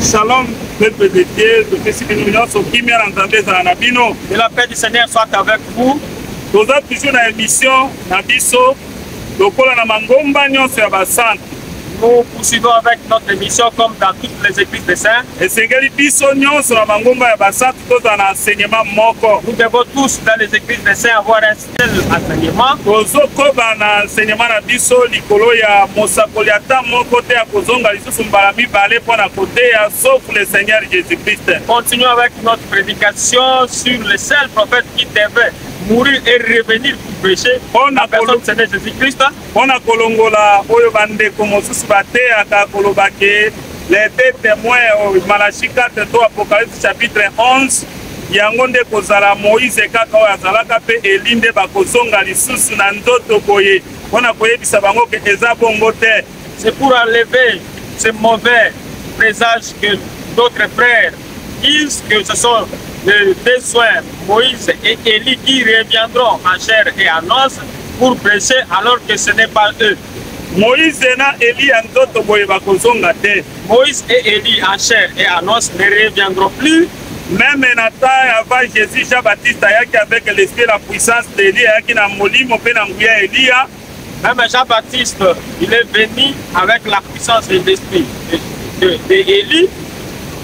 Shalom, peuple de Dieu, topesi bino nyonso kimia na Nzambe ezala na bino. Et la paix du Seigneur soit avec vous. Toza toujours na émission na biso lokola na mangomba nyonso ya basantu. Nous poursuivons avec notre émission comme dans toutes les églises des saints. Esengeli biso nyonso na mangomba ya basantu tozala na enseignement moko. Nous devons tous dans les églises des saints avoir un tozokoba na enseignement na biso likolo ya mosakoli ata moko te ya kozonga lisusu mbala mibale mpo na koteya sauf le seigneur jésus christ continue avec notre prédication sur le seul prophète qui devait mourir et revenir pour prêcher mpo na kolongola oyo bandeko mosusu bateyaka kolobake les deux témoins malachi 4 to apocalypse chapitre 11 yango nde kozala moise kaka oyo azalaka mpe eli nde bakozonga lisusu na nzoto boye mpo na koyebisa bango ke eza bongo te c'est pour enlever ce mauvais présage que d'autres frères disent que ce sont les deux soins moïse et eli qui reviendront en chair et en os pour prêcher alors que ce n'est pas eux Moïse na Elie ya nzoto boye bakozonga te. Moïse et Elie en chair et en os ne reviendront plus. Meme na temps avant Jésus, Jean Baptiste ayaki avec l'esprit la puissance d'Elie ayaki na molimo mpe na nguya Elia. Même Jean Baptiste, il est venu avec la puissance et l'esprit de, de, de Elie.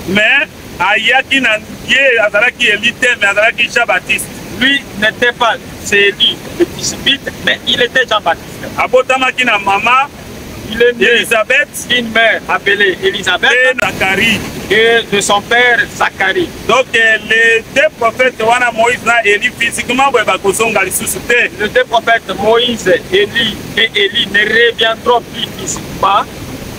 Mais ayaki na ye azalaki eli te mais azalaki jean baptiste lui n'était pas c'est élu le discipite mais il était jean baptiste abotamaki na mama il est né Elisabeth, une mère appelée Elisabeth, et Zacharie, et de son père Zacharie. Donc euh, les deux prophètes, wana Moïse na Élie, physiquement, ouais, bah, kozonga lisusu te. Les deux prophètes, Moïse, Élie et Élie ne reviendront plus physiquement.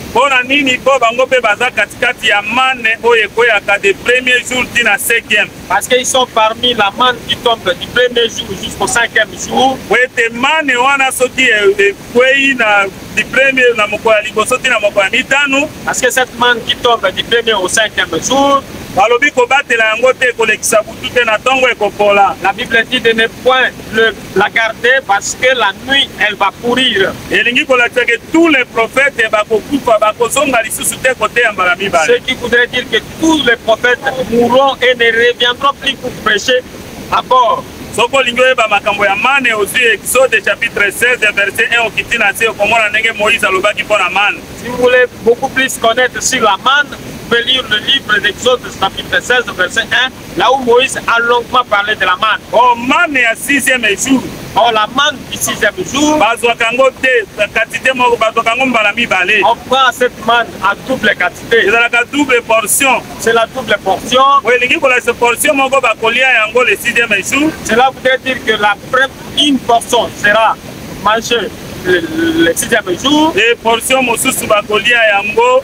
Mpo na nini? Mpo bango mpe baza katikati ya manne oyo ekweyaka de premier jour ti na cinquième. Parce que ils sont parmi la manne qui tombe du premier jour jusqu'au cinquième jour. Po ete manne wana soki e, ekwei na du premier na mokolo ya liboso ti na mokolo ya mitano. Parce que cette manne qui tombe du premier au cinquième jour. balobi kobatela yango te kolekisa butu te na ntongo ekopola. La Bible dit de ne point le la garder parce que la nuit elle va courir. elingi kolakisa que tous les prophètes bakokufa bakozonga lisusu te koteya mbala mibale Ce qui voudrait dire que tous les prophètes mourront et ne reviendront plus pour prêcher à bord. soki olingi oyeba makambo ya mane ozwi exode chapitre 16 verset 1 okiti na se okomona ndenge moïse alobaki mpo na mane Si vous voulez beaucoup plus connaître sur la manne, vous pouvez lire le livre d'Exode chapitre 16 verset 1 Là où Moïse a longuement parlé de la manne. Oh, manne ya sixième jour. Oh, la manne du sixième jour. Bazwaka yango te quantité moko, bazwaka yango mbala mibale. On prend cette manne à double quantité. Ezalaka double portion. C'est la double portion. Oyo elingi kolakisa portion moko bakolia yango le sixième jour. Cela voudrait dire que la première une portion sera mangée le, le sixième jour. Et portion mosusu bakolia yango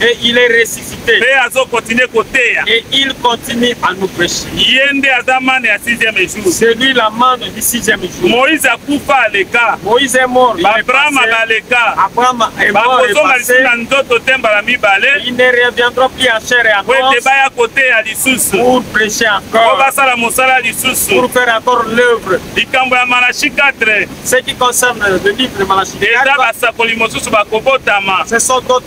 Et il est ressuscité. Mpe azo continuer koteya. Et il continue à nous prêcher. Ye nde aza mane ya sixième jour. C'est lui la mane du sixième jour. Moïse akufa aleka. Moïse est mort. Abraham baleka. Abraham est mort. Bakozonga lisusu na nzoto te mbala mibale. Il ne reviendra plus en chair et en os. Ete baya koteya lisusu. Pour prêcher encore. Mpo basala mosala lisusu. Pour faire encore l'œuvre. Likambo ya Malachi 4. Ce qui concerne le livre de Malachi 4. Eza basakoli mosusu bakobotama. Ce sont d'autres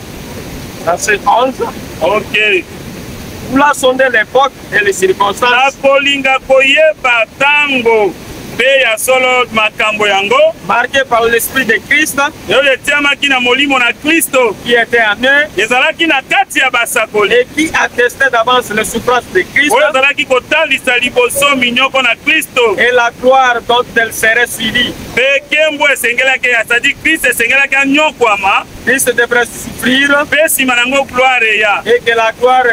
Verset 11. Ok. Voulant sonder l'époque et les circonstances. Nakolinga koyeba tango mpe ya solo makambo yango marqué par l'esprit de christ oyo etiamaki na molimo na kristo qui était en eux ezalaki na kati ya basakoli et qui attestait d'avance les souffrances de christ oyo ezalaki kotalisa liboso minyoko na kristo et la gloire dont elle serait suivie mpe kembo esengelaki ya sadi kristo esengelaki anyokwama Christ devrait souffrir. Mpe nsima na yango gloire eya. Et que la gloire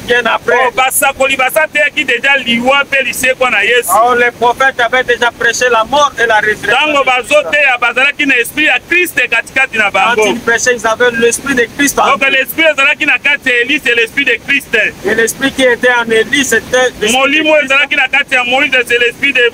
vienne après. Oh, basakoli basateyaki deja liwa mpe lisekwa na yesu oh, les prophètes avaient déjà prêché la mort et la résurrection ntango bazoteya bazalaki na esprit ya kriste katikati na bango quand ils prêchaient ils avaient l'esprit de christ donc l'esprit ezalaki na kati ya elise et l'esprit de christ et l'esprit qui était en elise c'était molimo ezalaki na kati ya moïse c'est l'esprit de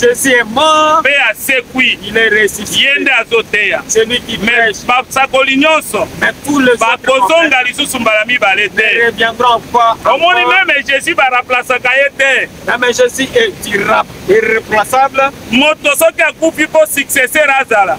Jésus est mort. Mpe asekwi. Il est ressuscité. Ye nde azoteya. Celui qui prêche. Basakoli nyonso. Mais tous les bakozonga lisusu mbala mibale te. Ne reviendront pas. Omoni meme Jésus baraplasaka ye te. Meme Jésus est irrap irreplaçable. Moto soki akufi mpo successeur azala.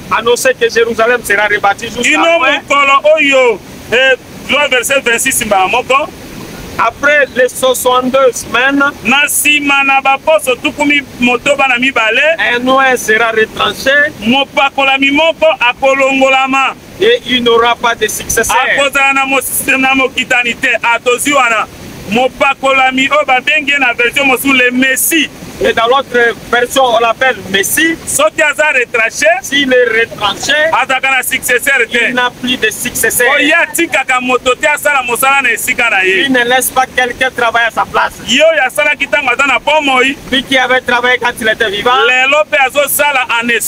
annoncer que Jérusalem sera rebâtie jusqu'à kino mokolo oyo eh, loi verset 26 mbala moko après les 62 semaines na nsima na baposo tuku motoba na mibale un oin sera retranché mopakolami moko akolongolama et il n'aura pas de successeur akozala na mokitani te atozwi ah, wana mopakolami oyo babengi ye na version mosusu le messi Et dans l'autre version, on l'appelle Messie. Soki aza retranché. S'il est retranché. Azaka na successeur te. Il n'a plus de successeur. Oye atikaka moto te asala mosala na esika na ye. Il ne laisse pas quelqu'un travailler à sa place. Yo ya sala kitanga aza na bomoi. Lui qui avait travaillé quand il était vivant. Lelo pe azo sala en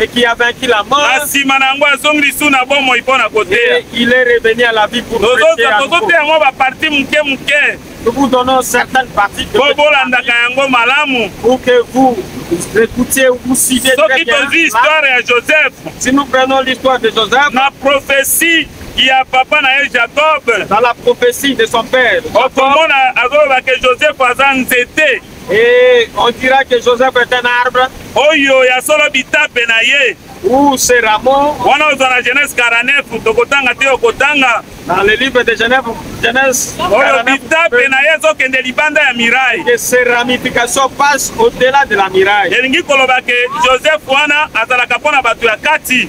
et qui a vaincu la mort. Na sima na yango azongi lisusu na bomoi mpo na koteya. Il est revenu à la vie pour prêcher à nouveau. Tozoteya yango ba partie moke moke. Nous vous donnons certaines parties de Bo bolandaka yango malamu. Pour que vous écoutiez ou vous suivez très bien. Soki tozwi histoire ya Joseph. Si nous prenons l'histoire de Joseph. Na prophétie ya papa na ye jacob dans la prophétie de son père okomona azoloba ke joseph aza nzete Et on dira que Joseph est un arbre. Oyo ya solo bitape na ye. Ou c'est Rameau. Wana ozwa na Genèse 49 tokotanga te okotanga. Dans le livre de Genève, Genèse. Oyo bitape na ye ezokende libanda ya miraille. Que ses ramifications passent au-delà de la miraille. Elingi koloba que Joseph wana azalaka mpo na bato ya kati.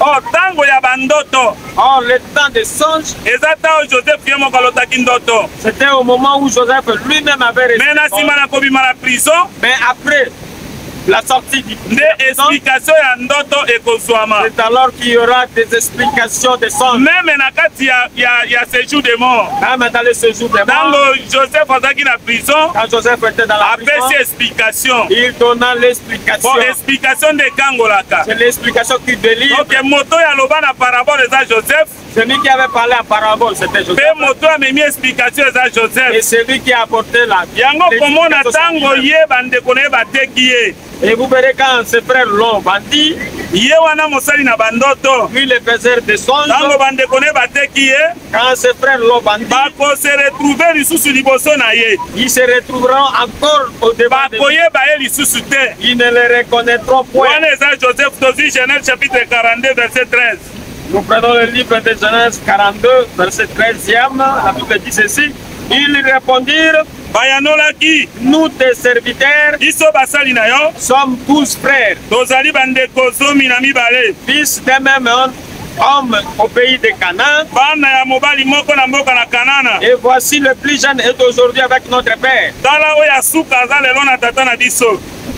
Oh, tango ya ba ndoto. Oh, le temps des songes. Eza tango Joseph ye moko alotaki ndoto. C'était au moment où Joseph lui-même avait réussi. Mais na sima na kobima na prison. Mais après la sortie du nde explication ya ndoto ekozwama c'est alors qu'il y aura des explications des sens meme na kati ya, ya, ya séjour de mort meme dans le séjour de mort ntango joseph azalaki na prison quand joseph était dans la apesi explication il donna l'explication Bon, explication nde ekangolaka. C'est l'explication qui délivre. Donc moto ya loba na parabole eza Joseph. Celui qui avait parlé en parabole c'était Joseph. Pe moto amemi explication eza Joseph. Et celui qui a apporté la. Yango komona tango ye bandeko na ye bateki ye. Et vous verrez quand ses frères l'ont bandi. Ye wana mosali na bandoto. Lui le faiseur de songe. Tango bandeko na ye bateki ye. Quand ses frères l'ont vendu, bakose retrouve lisusu liboso na ye ils se retrouveront encore au devant de lui. bakoyeba ye lisusu te Ils ne les reconnaîtront point. wana eza joseph tozwi genèse chapitre 42 verset 13 Nous prenons le livre de Genèse 42, verset 13e. La Bible dit ceci. Ils lui répondirent, bayanolaki nous tes serviteurs biso basali na yo sommes tous frères, tozali bandeko zomi na mibale fils d'un même homme homme au pays de Canaan. Et voici le plus jeune est aujourd'hui avec notre père.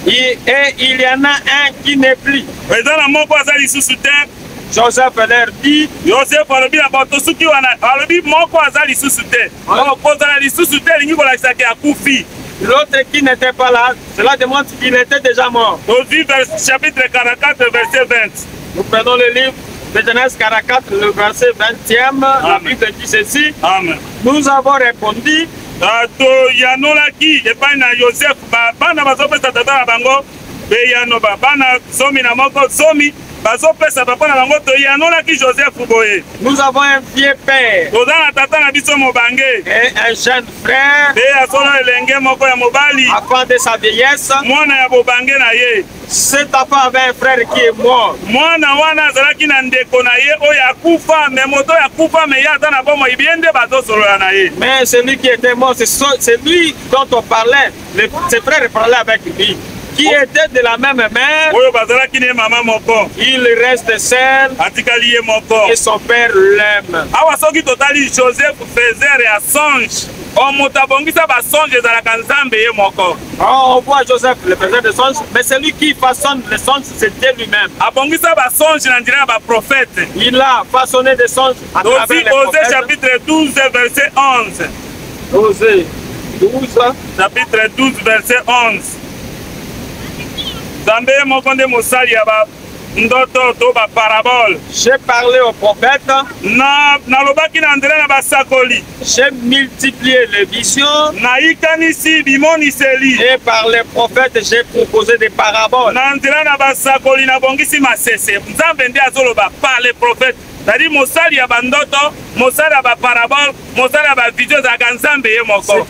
Et, et il y en a un qui n'est plus. Joseph leur dit Joseph alobi na bato soki wana alobi moko aza lisusu te kozala lisusu te elingi kolakisa ke akufi l'autre qui n'était pas là Cela démontre qu'il était déjà mort. Nous vivons chapitre 44, verset 20. Nous prenons le livre de Genèse 44, le verset 20e. La Bible dit ceci. Amen. Nous avons répondu. Ah, toyanolaki epai na yosefe bana bazopesa tata na bango beyano bana zomi na moko zomi bazopesa papa na bango toyanolaki joseph boye nous avons un vieux père toza na tata na biso mobange un jeune Frère. Mpe azona elenge moko ya mobali. A cause de sa vieillesse. Mwana ya bobange na ye. Cet enfant avait un frère qui est mort. Mwana wana azalaki na ndeko na ye oyo akufa, mais moto oyo akufa mais ye aza na bomoi bien nde bazosolola na ye. Mais celui qui était mort, c'est lui dont on parlait. Le, ses frères parlaient avec lui, qui était de la même mère. oyo bazalaki ne mama moko Il reste seul atikali ye moko et son père l'aime. awa soki totali joseph faiser ya songe o moto abongisa basonge ezalaka nzambe ye moko Oh, on voit Joseph, le président de songe, mais celui qui façonne les songes, c'est Dieu lui-même. abongisa basonge na nzela ya baprofete Il a façonné des songes à travers tozi les ose prophètes. chapitre 12 verset 11 Jose 12 chapitre 12 verset 11 nzambe ye moko nde mosali ya ba ndoto to baparabole j'ai parlé au prophète na nalobaki na nzela na basakoli j'ai multiplié les visions nayikanisi bimoniseli et par les prophètes j'ai proposé des paraboles na nzela na basakoli nabongisi masese nzambe nde azoloba par les prophètes cetadire mosali ya bandoto mosali ya baparabole mosali ya bavision ezalaka nzambe ye moko o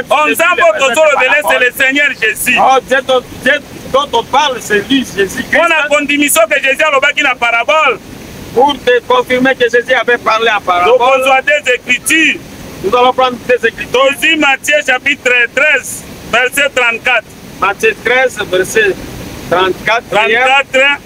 oh, nzambe oyo tozolobele se le seigneur jésus oh, mpo na kondimiso ke jésus alobaki na parabole pour te confirmer que Jésus avait parlé en parabole. Donc, on des Écritures. Nous allons prendre des Écritures. Matthieu chapitre 13, verset 34. Matthieu 13, verset 34. 34.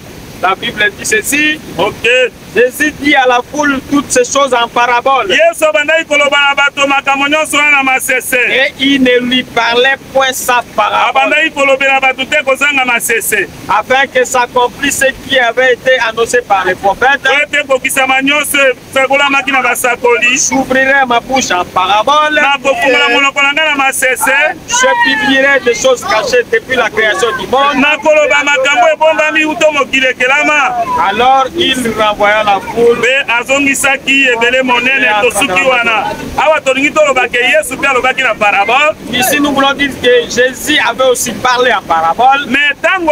La Bible dit ceci. Ok. Jésus dit à la foule toutes ces choses en parabole. Yesu abandaki koloba na bato makambo nyonso wana na masese. Et il ne lui parlait point sa parabole. Abandaki kolobela bato te kozanga masese. Afin que s'accomplisse ce qui avait été annoncé par les prophètes. Oyo te kokisama nyonso esakolamaki na basakoli j'ouvrirai ma bouche en parabole nakofungola monoko na ngai na masese je publierai des choses cachées depuis la création du monde nakoloba makambo ebombami uto mokili ekelama alors il renvoya la foule mpe azongisaki ebele monene tosuki wana awa tolingi toloba ke yesu mpe alobaki na parabole ici nous voulons dire que jésus avait aussi parlé en parabole mais ntango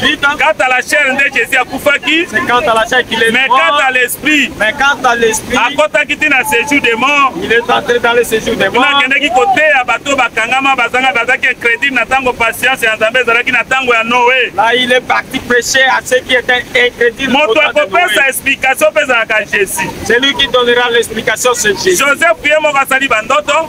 Quant à la chair, Jésus a koufaki. C'est quant à la chair qu'il est Mais mort. quant à l'esprit. Mais quant à l'esprit. À côté qui dit dans séjour des morts. Il est entré dans le séjour des morts. Kuna qui côté à bateau bakangama bazanga bazaki incrédule na tango patience ya Nzambe ezalaki na tango ya Noé. Là il est parti prêcher à ceux qui étaient incrédules. Moto akopesa explication pesa à Jésus. Celui qui donnera l'explication c'est Jésus. Joseph Pierre Mokasali bandoto.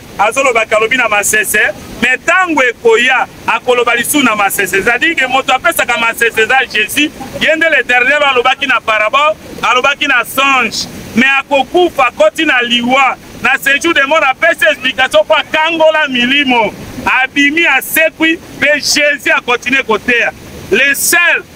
azoloba ke alobi na masese me ntango ekoya akoloba lisusu na masese cetadire ke moto apesaka masese eza jésus ye nde le dernier oyo alobaki na parabole alobaki na songe me akokufa akoti na liwa na sejour de mort apesi explication mpo akangola milimo abimi asekwi mpe jésus akontinue koteya le seul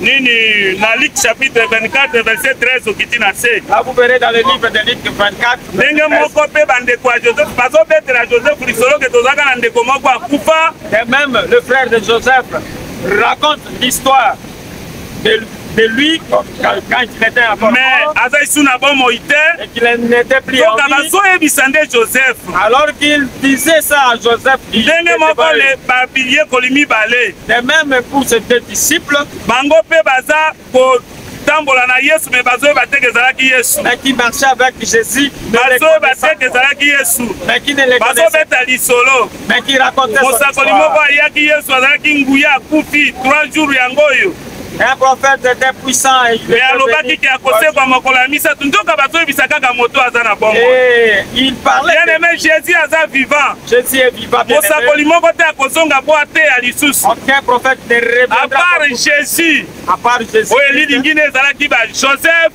nini na Luc chapitre 24 verset 13 okiti na se ndenge moko mpe bandeko ya joseph bazobetela joseph lisolo ke tozalaka na ndeko moko akufa et même le frère de joseph raconte l'histoire de de lui quand il était à Bordeaux. Mais avec son abomon il était. Et qu'il n'était plus Donc, en vie. Donc, ebisa nde Joseph. Alors qu'il disait ça à Joseph. Ndenge moko le babilier kolimi balé. De même pour ses deux disciples. Bango pe baza ko kotambola na yesu me bazoyeba te ke ezalaki yesu bazoyeba te ke ezalaki yesu bazobeta lisolo mosakoli moko ayaki yesu azalaki nguya akufi 3 jours yango oyo Un prophète était puissant et il alobaki ke akosekwa mokolo ya misato nzoka bazoyebisa kaka moto aza na bongo eh, il parlait bien aimé Jésus aza vivant Jésus est vivant mosakoli moko te akozonga po ateya lisusu aucun prophète ne reviendra à part Jésus à part Jésus oyo elilingi ne ezalaki ba Joseph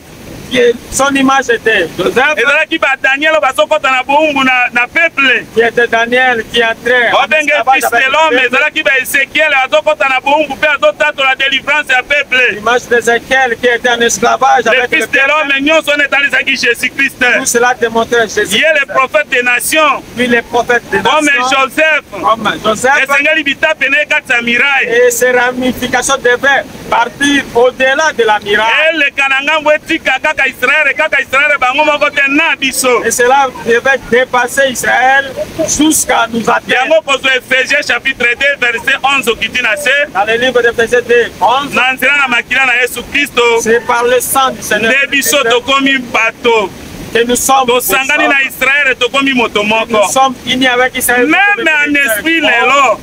son image était Joseph. ezalaki ba daniel oyo bazokɔta na boumbu na, na peuple qui était daniel qui entrait babenge fils de l'homme ezalaki ba ezekiel azokɔta na boumbu mpe azotatola délivrance ya peuple image d'ezekiel qui était en esclavage le fils de l'homme nyonso wana etalisaki jésus christ tout cela démontrait jésus ye le prophète des nations lui le prophète des nations comme joseph comme joseph esengeli bitape na ye kati ya miraille et ses ramifications devaient partir au-delà de la miraille. eleka na ngambo etika kaka israele kaka israele bango moko te na biso Et cela devait dépasser Israël jusqu'à nous atteindre. yango kozwa efesie chapitre 2 verset 11 okiti na se Dans le livre de Pésée 2, 11, na nzela na makila na yesu kristo c'est par le sang du Seigneur nde biso tokomi bato que nous sommes, nous tosangani na sommes, israele tokomi moto nous moko sommes unis avec Israël. meme en esprit lelo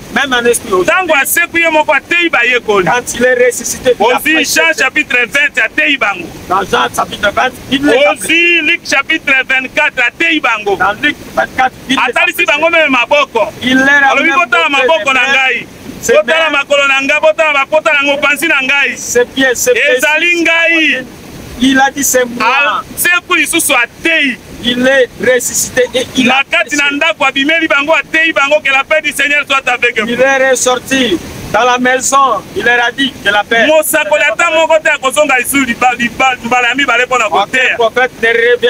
ntango asekwi ye moko ateyi bayekoli ozwi jean chapitre 20 ateyi bango ozwi lik chapitre 24 ateyi bango atalisi bango meme maboko alobi kotala maboko na ngai botala makolo na ngai botala bapota na ngai opanzi na ngai ezali ngai Il a dit c'est moi. Alsekwi lisusu ateyi. Il est ressuscité et il na kati na ndako abimeli bango ateyi bango que la paix du Seigneur soit avec vous. Il est ressorti dans la maison il leur a dit que la paix. mosakoli ata moko te akozonga lisusu mbala ya mibale mpo na koteya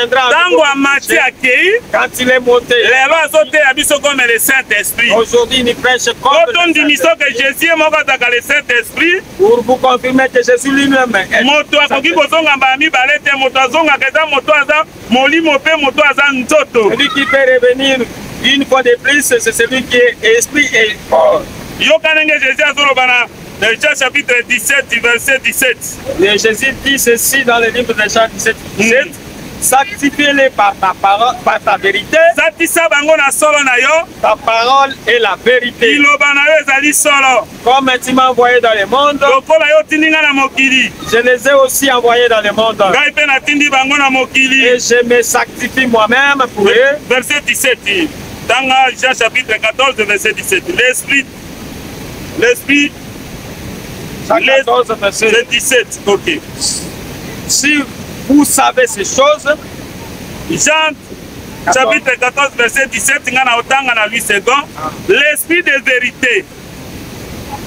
ntango amati akei lelo azoteya biso comme le saint esprit otondimisio ke jésus ye moko azalaka le saint esprit Pour vous confirmer que je suis lui-même. Eh, moto akoki kozonga mbala mibale te moto azongaka eza moto aza molimo mpe moto aza nzoto celui qui peut revenir une fois de plus c'est celui qui est esprit et corps yoka ndenge jésus azoloba na Jean chapitre 17 du verset 17 et jésus dit ceci dans le livre de jean 17 17 mm. sanctifie-les par ta parole par ta vérité satisa bango na solo na yo ta parole est la vérité liloba na yo ezali solo Comme tu m'as envoyé dans le monde, lokola yo otindi ngai na mokili, je les ai aussi envoyés dans le monde. ngai mpe natindi bango na mokili. Et je me sanctifie moi-même pour eux. Verset 17, tanga Jean chapitre 14, verset 17. L'esprit, l'esprit, Jean 14, verset le 17, ok. Si vous savez ces choses, Jean chapitre 14, verset 17, nga na otanga na 8 secondes, l'esprit de vérité.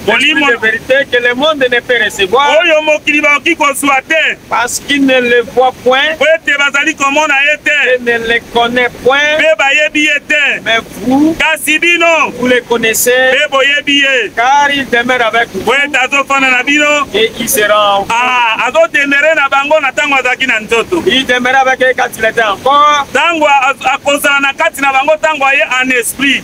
Molimo de vérité que le monde ne peut recevoir. Oyo mokili bakoki kozwa te. Parce qu'il ne le voit point. Mpo ete bazali komona ye te. Et ne le connaît point. Mpe bayebi ye te. Mais vous. Kasi bino. Vous le connaissez. Mpe boyebi ye. Car il demeure avec vous. Mpo ete azofanda na bino. Et il sera en vous. Ah, azodemere na bango na ntango azalaki na nzoto. Il demeure avec eux quand il était encore. Ntango akozala na kati na bango ntango aye en esprit.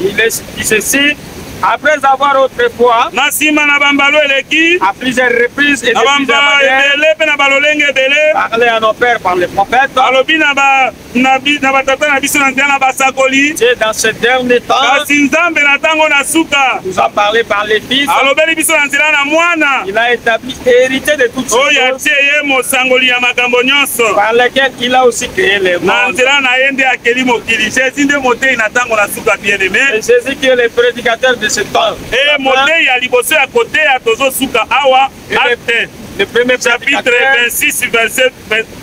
Il est ceci après avoir autrefois na nsima na bambalo eleki à plusieurs reprises et na bambalo ebele mpe na balolenge ebele parler à nos pères par les prophètes alobi na ba na bi na batata na biso na nzela na basakoli c'est dans ce dernier temps kasi nzambe na ntango na suka nous a parlé par les fils alobeli biso na nzela na mwana il a établi héritier de toutes oyo atie ye mosangoli ya makambo nyonso par lequel il a aussi créé le monde na nzela na ye nde akeli mokili jésus nde moteyi na ntango na suka bien aimé jésus qui est le prédicateur de ce temps e moteyi ya liboso ya koteya tozosuka awa acte le premier chapitre 26 verset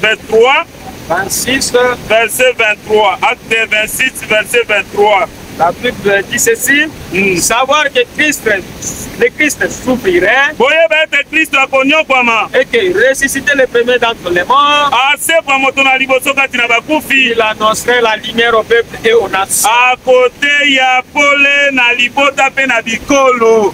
23 26, verset 23. Acte 26, verset 23. La Bible dit ceci, mm. savoir que Christ, le Christ souffrirait. boyeba ete kristo akonyokwama et que ressuscité le premier d'entre les morts asekwa moto na liboso kati na bakufi il annoncerait la lumière au peuple et aux nations akoteya pole na libota mpe na bikolo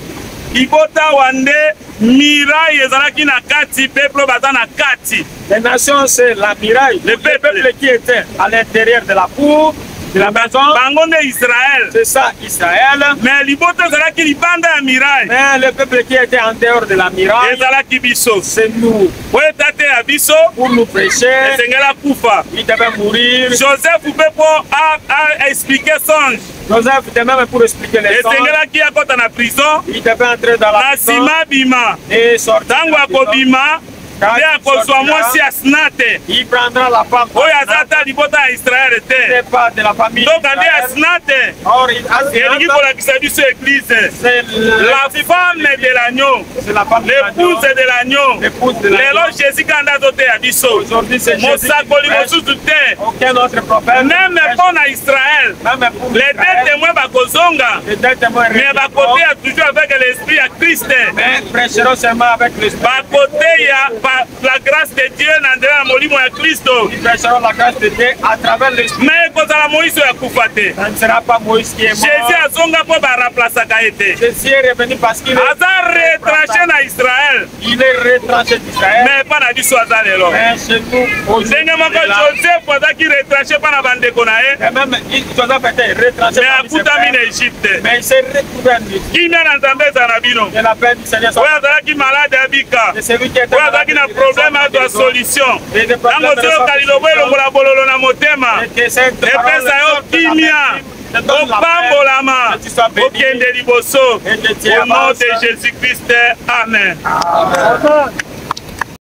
libota wa nde Miraille ezalaki na kati, peuple baza na kati. Les nations c'est la miraille. Le peuple, le peuple qui était à l'intérieur de la cour bango nde israel c'est ça israel mais libota ezalaki libanda ya miraille mais le peuple qui était en dehors de la miraille ezalaki biso c'est nous po etate ya biso pour nous prêcher esengela kufa il devait mourir joseph mpe mpo a expliquer songe Joseph de même pour expliquer les esengelaki akɔta na prison na nsima abima ntango akobima nde akozwa mwasi ya sina te oyo aza ata libota ya israele te ndoka nde ya sina te elingi kolakisa biso eglize la femme de l'agneau l'épouse de l'agneau lelo jésus kanda azoteya biso mosakoli mosusu te meme mpo na israel les deux témoins bakozonga mais bakoteya toujours avec l'esprit ya christ bakoteya la grâce de Dieu na nzela ya molimo ya Kristo. Il pêchera la grâce de Dieu à travers l'esprit. Mais ekozala Moïse oyo akufa te. Ça ne sera pas Moïse qui est mort. Jésus azonga mpo ba remplaçaka ye te. Jésus est revenu parce qu'il est aza retranché na Israël. Il est retranché d'Israël. Mais epa na biso aza lelo. Mais chez nous aujourd'hui. Ndenge moko Joseph azalaki retranché mpo na bandeko na ye. Et même Joseph était retranché. Mais akutami na Égypte. Mais il s'est kimia na nzambe ezala na bino oyo azalaki malade abika oyo azalaki na probleme azwa solution ntango ozoyoka lilobo elongola bololo na motema epesa yo kimia opambolama okende liboso au nom de jésus christ amen, amen. amen.